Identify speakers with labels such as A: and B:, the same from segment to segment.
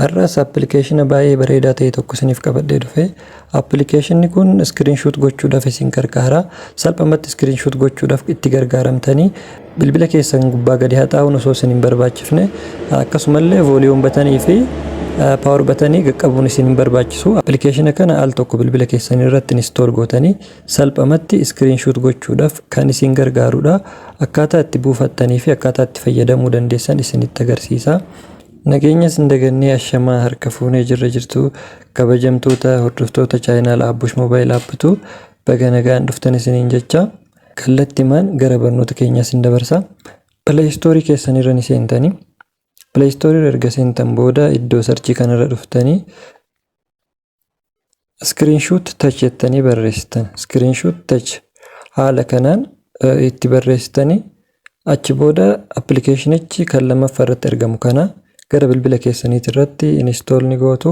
A: Har'as appilikeeshina baay'ee bareedaa ta'e tokko isiniif qabadhee dhufe. Appilikeeshinni kun iskiriinshuut gochuudhaaf isin gargaara. Salphumatti iskiriinshuut gochuudhaaf itti gargaaramtanii bilbila keessan gubbaa gadi haxaa'uun osoo isin hin barbaachifne akkasumallee vooliyuum batanii fi paawar batanii qaqqabuun isin hin barbaachisu. Appilikeeshina kana al tokko bilbila keessan irratti inistool gootanii Salphamatti screenshot gochuudhaf kan isin gargaarudha. Akkaataa itti buufattanii fi akkaataa itti fayyadamuu dandeessan isinitti agarsiisa. Nageenya isin dagannee ashamaa harka fuunee jirra jirtu kabajamtoota hordoftoota chaayinaal Aabbush Mobile Apptu baga nagaan dhuftan isiniin jecha kallattimaan gara barnoota keenyaa isin dabarsa. Play Store keessan irra ni seentanii. Play Store irra erga seentan booda iddoo sarchii kanarra dhuftanii screenshot touch jettanii barreessitan screenshot touch haala kanaan itti barreessitanii achi booda appilikeeshinichi kan lammaffaa irratti argamu kana gara bilbila keessaniitii irratti install ni gootu.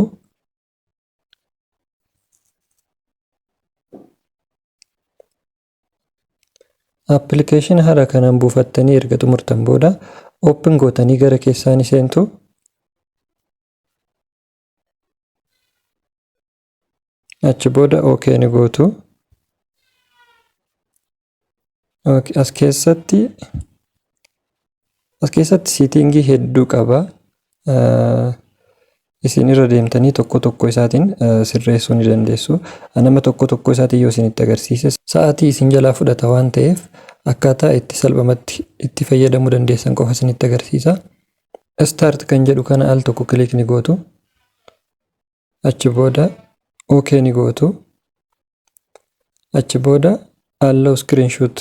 A: Appilikeeshinii haala kanaan buufattanii erga xumurtan booda open gootanii gara keessaanii seentu. achi booda ok ni gootu as keessatti as keessatti siitingii hedduu qaba isin irra deemtanii tokko tokko isaatiin sirreessuu ni dandeessu nama tokko tokko isaatiin yoo isinitti agarsiise sa'aatii isin jalaa fudhata waan ta'eef akkaataa itti salphamatti itti fayyadamuu dandeessan qofa isinitti agarsiisa Start kan jedhu kana al tokko click ni gootu. Achi booda OK ni gootu. Achi booda allow screenshot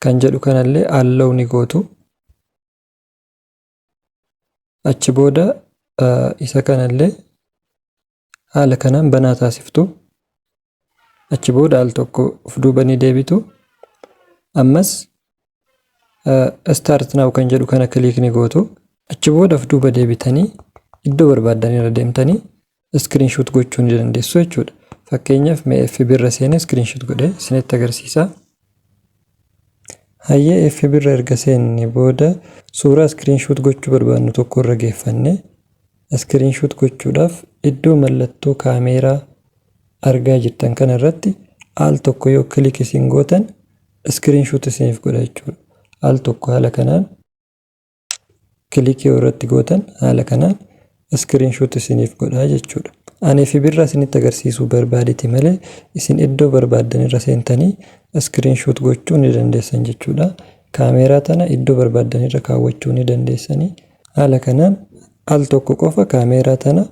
A: kan jedhu kanallee allow ni gootu. Achi booda isa kanallee haala kanaan banaa taasiftu. achi booda al tokko of duuba ni deebitu ammas start now kan jedhu kana click ni gootu achi booda of duuba deebitanii iddoo barbaaddan irra deemtanii screenshot gochuu ni dandeessu jechuudha fakkeenyaaf mee FB irra seenee screenshot godhee isinitti agarsiisa Hayyee fb irra erga seenne booda suuraa screenshot gochuu barbaadnu tokko irra geeffanne screenshot gochuudhaaf iddoo mallattoo kaameeraa argaa jirtan kana irratti al tokko yoo click isin gootan screenshot isiniif godha jechuudha. Al tokko haala kanaan kilikii irratti gootan haala kanaan iskiriinshoot isiniif godhaa jechuudha. Ani fi birraa isinitti agarsiisuu barbaadeti malee isin iddoo barbaaddan irra seentanii iskiriinshoot gochuu ni dandeessan jechuudha. Kaameeraa tana iddoo barbaaddan irra kaawwachuu ni dandeessanii. Haala kanaan al tokko qofa kaameeraa tana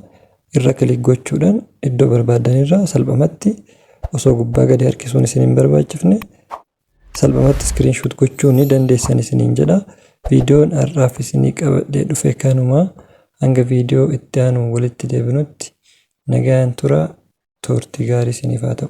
A: irra kilik gochuudhaan iddoo barbaaddan irra salphamatti osoo gubbaa gadi harkisuun isin hin barbaachifne Salphumatti screenshot gochuu ni dandeessan isiniin jedha. Viidiyoon har'aaf isinii qabadhee dhufe kanuma. Hanga viidiyoo itti aanuun walitti deebinutti nagaan tura. Turtii gaarii isiniif haa ta'u.